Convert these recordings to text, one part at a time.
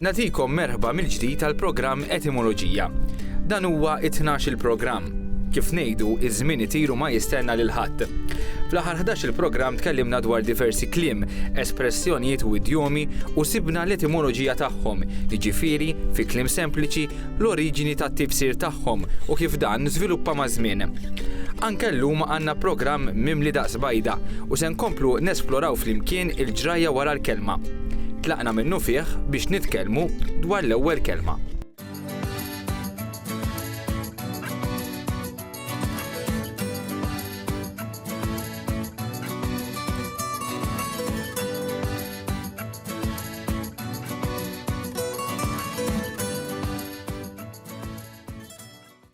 Natikom merħba mill-ġdid għal programm Etimoloġija. Dan huwa it-12 il-programm. Kif ngħidu, iż-żmien itiru ma jistenna lil ħadd. Fl-aħħar 11 il-programm tkellimna dwar diversi kliem, espressjonijiet u idjomi u sibna l-etimoloġija tagħhom, jiġifieri fi kliem sempliċi l-oriġini tat-tifsir tagħhom u kif dan żviluppa maż-żmien. Anke llum għandna programm mimli daqs bajda u se nkomplu nesploraw flimkien il-ġrajja wara l-kelma. Tlaqna minnufih biex nitkellmu dwar l-ewwel kelma.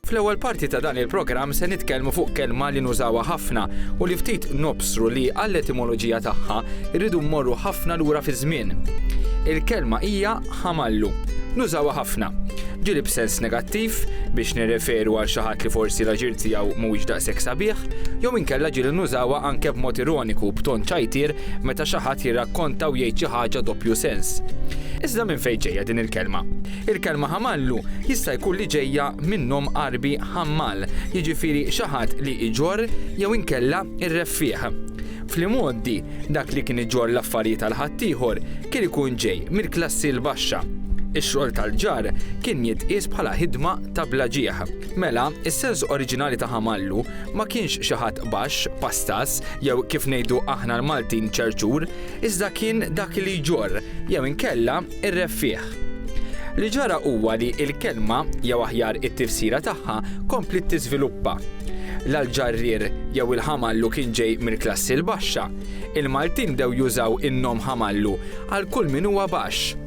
Fl-ewwel parti ta' dan il-programm se nitkellmu fuq kelma li nużawha ħafna u li ftit nobsru li għall-etimoloġija tagħha rridu mmorru ħafna lura fi żmien. Il-kelma hija ħamallu. Nużawha ħafna. Ġili b'sens negattiv biex nirreferu għal xi ħadd li forsi l-aġir tiegħu mhuwiex daqshekk sabiħ, jew inkella ġili nużawha anke b'mod ironiku b'ton ċajtier meta xi ħadd jirrakkonta u jgħid xi ħaġa doppju sens. Iżda minn fejn ġejja din il-kelma? Il-kelma ħamallu jista' jkun li ġejja minnhom Għarbi ħammal, jiġifieri xi ħadd li iġorr jew inkella irreffieħ. Fl-imgħoddi, dak li kien iġorr l-affarijiet għal ħaddieħor kien ikun ġej mill-klassi l-baxxa. Ix-xogħol tal-ġarr kien jitqies bħala ħidma ta' bla ġieħ. Mela, is-sens oriġinali ta' ħamallu Ma kienx xi ħadd baxx, pastas, jew kif ngħidu aħna l-Maltin ċerċur, iżda kien dak li jġorr, jew inkella r-reffiegħ. Li ġara huwa li l-kelma, jew aħjar it-tifsira tagħha, kompliet tiżviluppa. La l-ġarrier jew il-ħamallu kien ġej mill-klassi l-baxxa. Il-Maltin bdew jużaw in-nom ħamallu għal kull min huwa baxx.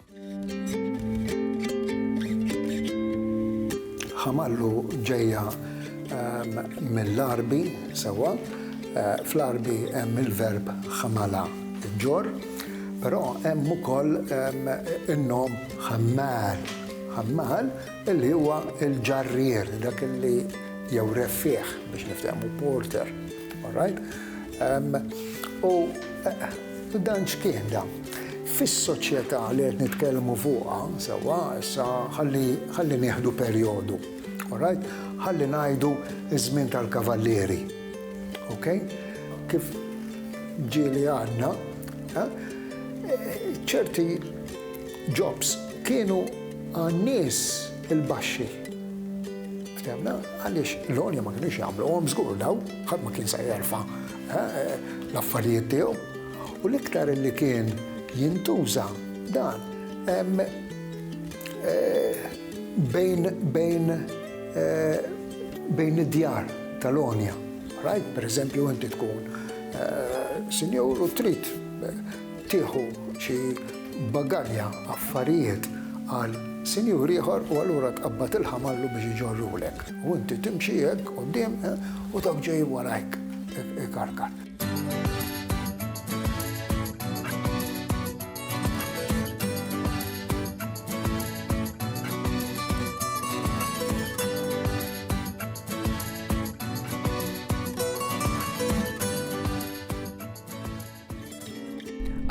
Ħamallu ġejja mill-Għarbi, sewwa. Fl-Għarbi hemm il-verb ħamala ġġorr, però hemm ukoll in-nom ħammal, ħammal, li huwa l-ġarrier, dak li jew reffiegħ biex niftehmu, porter. All right. Um, u eh, dan x'kien da? Fis-soċjetà li qed nitkellmu fuqha, sewwa, issa ħalli nieħdu perjodu. All right? Ħalli ngħidu iż-żmien tal-kavallieri. Ok? Kif ġieli għadna, eh, ċerti jobs kienu għan-nies il-baxxi Ftemna, għaliex l-għolja ma kienux jagħmluhom żgur daw, ħadd ma kien se jerfa' l-affarijiet tiegħu. U l-iktar li kien jintuża dan bejn id-djar tal-għonja. Rajt, pereżempju, inti tkun sinjur u trid tieħu xi bagalja affarijiet għal sinjur ieħor u allura tqabbad il-ħamallu biex iġorrulek u inti timxi hekk quddiem u dawk ġejjin warajk ikarkar.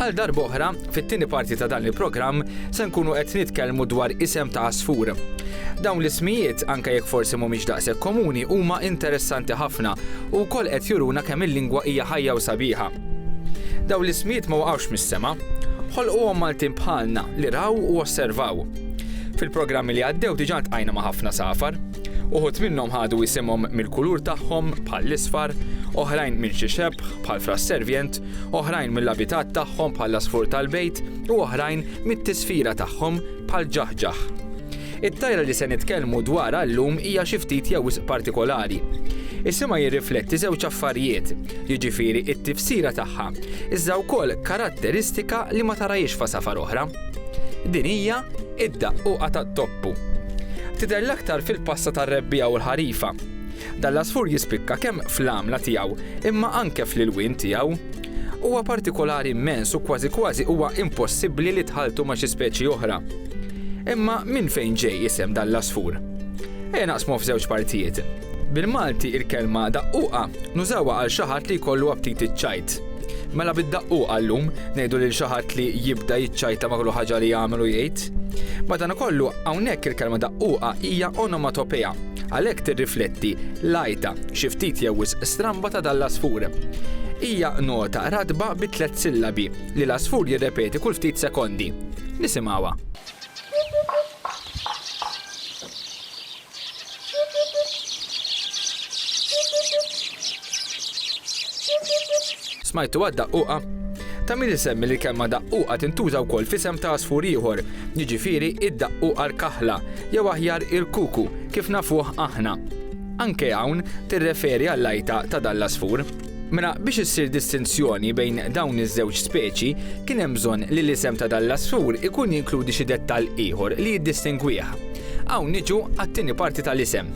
Għal darb'oħra, fit-tieni parti ta' dan il-programm se nkunu qed nitkellmu dwar isem ta' għasfur. Dawn l-ismijiet, anke jekk forsi mhumiex daqshekk komuni, huma interessanti ħafna u wkoll qed juruna kemm il-lingwa hija ħajja u sabiħa. Dawn l-ismijiet ma waqgħux mis-sema. Ħolquhom Maltin bħalna li raw u osservaw. Fil-programmi li għaddew diġà ltqajna ma' ħafna safar. Uħud minnhom ħadu isimhom mill-kulur tagħhom bħall-isfar, oħrajn minn xi xebħ, bħal fras-servjent, oħrajn mill-abitat tagħhom bħall-għasfur tal-bejt u oħrajn mit-tisfira tagħhom bħall-ġaħġaħ. It-tajra li se nitkellmu dwarha llum hija xi ftit jew wisq partikolari. Isimha jirrifletti żewġ affarijiet, jiġifieri t-tifsira tagħha, iżda wkoll karatteristika li ma tarahiex f'għasafar oħra. Din hija id-daqquqa tat-toppu. Tidher l-aktar fil-passa tar-rebbiegħa u l-ħarifa. Dan l-għasfur jispikka kemm fl-għamla tiegħu imma anke fl-ilwien tiegħu. Huwa partikolari mmens u kważi kważi huwa impossibbli li tħalltu ma' xi speċi oħra. Imma minn fejn ġej isem dan l-għasfur? Ejja naqsmu f'żewġ partijiet. Bil-Malti il-kelma daqquqa nużawha għal xi ħadd li jkollu aptit iċ-ċajt. Mela bid-daqquqa llum ngħidu lil xi ħadd li jibda jiċċajta ma' kull ħaġa li jagħmel u jgħid. Madankollu hawnhekk il-kelma daqquqa hija onomatopea Għalhekk tirrifletti l-għajta, xi ftit jew wisq stramba ta' dan l-għasfur. Hija nota ratba bi tliet sillabi li l-għasfur jirrepeti kull ftit sekondi. Nisimgħuha. Smajtuha d-daqquqa? Ta' min isemmi li l-kelma daqquqa tintuża wkoll f'isem ta' għasfur ieħor, jiġifieri d-daqquqa l-kaħla, jew aħjar il-kuku kif nafuh aħna. Anke hawn tirreferi għall-għajta ta' dan l-għasfur. Mela biex issir distinzjoni bejn dawn iż-żewġ speċi, kien hemm bżonn li l-isem ta' dan l-għasfur ikun jinkludi xi dettall ieħor li jiddistingwih. Hawn niġu għat-tieni parti tal-isem.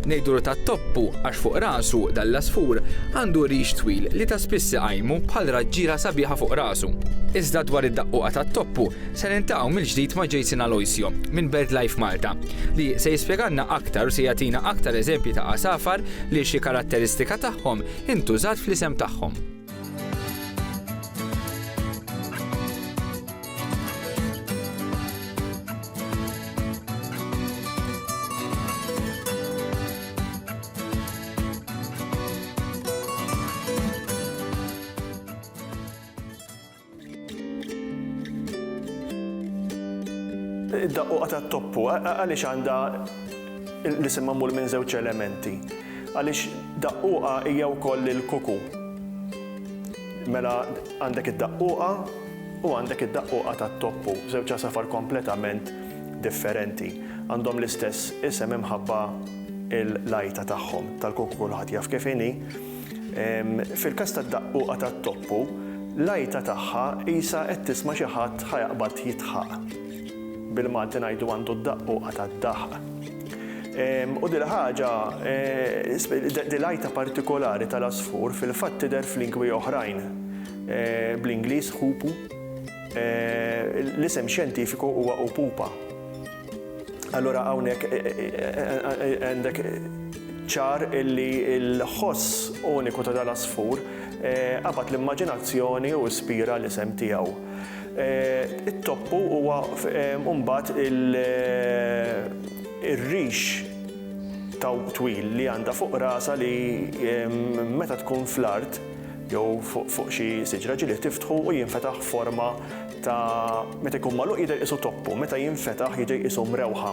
Ngħidulu tat-toppu għax fuq rasu dan l-għasfur għandu rix twil li ta' spiss iqajmu bħal raġġiela sabiħa fuq rasu. Iżda dwar id-daqquqa tat-toppu, Se niltaqgħu mill-ġdid ma' Jason Aloisio minn BirdLife Malta, li se jispjegalna aktar u se jagħtina aktar eżempji ta' għasafar li xi karatteristika tagħhom intużat fl-isem tagħhom. Id-daqquqa tat-toppu għaliex għandha l-isem magħmul minn żewġ elementi? Għaliex daqquqa hija wkoll il-kuku. Mela għandek id-daqquqa u għandek id-daqquqa tat-toppu, żewġ għasafar kompletament differenti. Għandhom l-istess isem imħabba l-għajta tagħhom tal-kuku kulħadd jaf kif inhi. Fil-każ tad-daqquqa tat-toppu, l-għajta tagħha qisha qed tisma' xi ħadd ħa jaqbad jidħaq. Bil-Malti ngħidu għandu d-daqquqa tad-daħq. U dil-ħaġa, dil-għajta partikolari tal-għasfur fil-fatt tidher f'lingwi oħrajn, bl-Ingliż hoopoe, l-isem xjentifiku huwa upupa. Allura hawnhekk għandek ċar illi l-ħoss uniku ta' dal-għasfur qabad l-immaġinazzjoni u ispira l-isem tiegħu. It-toppu huwa mbagħad ir-rix tawb twil li għandha fuq rasha li meta tkun fl-art jew fuq xi siġra ġili tiftħu u jinfetaħ forma ta' meta jkun magħluq jidher qisu toppu, meta jinfetaħ jidher qisu mrewħa.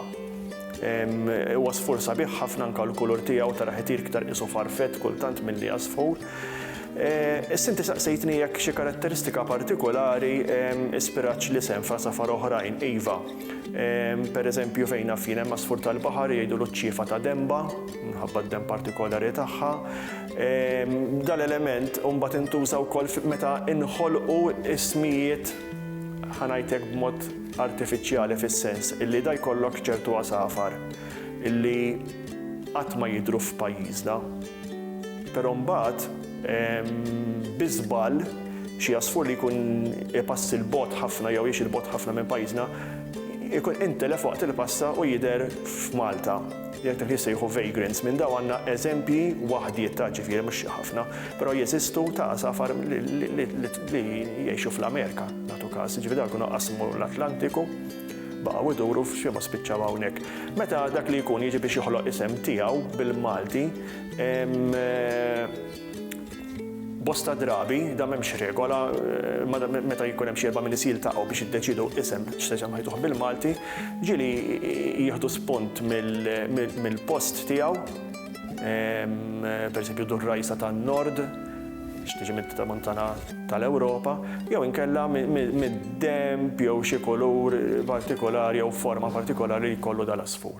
Huwa sfur sabiħ ħafna anke l-kulur tiegħu taraħ itir iktar qisu farfett kultant milli għasfur. Issa inti saqsejtni jekk xi karatteristika partikulari ispiratx l-isem f'għasafar oħrajn. Iva. Pereżempju fejn naf jien hemm għasfur tal-baħar jgħidulu ċ-ċiefa ta' denba minħabba d-denb partikolari tagħha. Dan l-element mbagħad intuża wkoll meta nħolqu ismijiet ħa ngħid hekk b'mod artifiċjali fis-sens illi da jkollok ċertu għasafar illi qatt ma jidhru f'pajjiżna. Però mbagħad bi żball xi għasfur li jkun ipass 'il bogħod ħafna jew jgħix 'il bogħod ħafna minn pajjiżna jkun intelef waqt il-passa u jidher f'Malta. Jekk dak li jissejħu vagrants, minn dawn għandna eżempji, waħdiet ta' ġifieri mhux ħafna, però jeżistu, ta' għasafar li jgħixu fl-Amerika, nagħtu każ, jiġifieri dawn jkunu qasmu l-Atlantiku, baqgħu jduru f'xi mod spiċċaw hawnhekk. Meta dak li jkun jiġi biex joħloq isem tiegħu bil-Malti, Bosta drabi, dan m'hemmx regola, meta jkun hemm xi erba' min-nies jiltaqgħu biex jiddeċiedu isem x'se isem ħajtuh bil-Malti, ġieli jieħdu spunt mill-post tiegħu, pereżempju Durrajsa tan-Nord, biex tiġi mit-Tramuntana tal-Ewropa, jew inkella mid-denb jew xi kulur partikolari jew forma partikolari li jkollu dal-għasfur.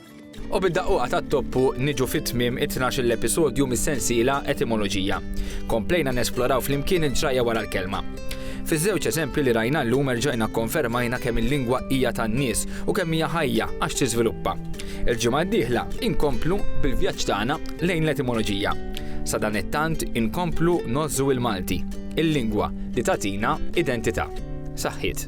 U bid-daqquqa tat-toppu niġu fi tmiem it-tnax-il episodju mis-sensiela Etimoloġija. Komplejna nesploraw flimkien il-ġrajja wara l-kelma. Fiż-żewġ eżempji li rajna llum erġajna kkonfermajna kemm il-lingwa hija tan-nies u kemm hija ħajja għax tiżviluppa. Il-ġimgħa d-dieħla inkomplu bil-vjaġġ tagħna lejn l-etimoloġija. Sadanittant inkomplu ngħożżu il-Malti, il-lingwa li tagħtina identità. Saħħiet.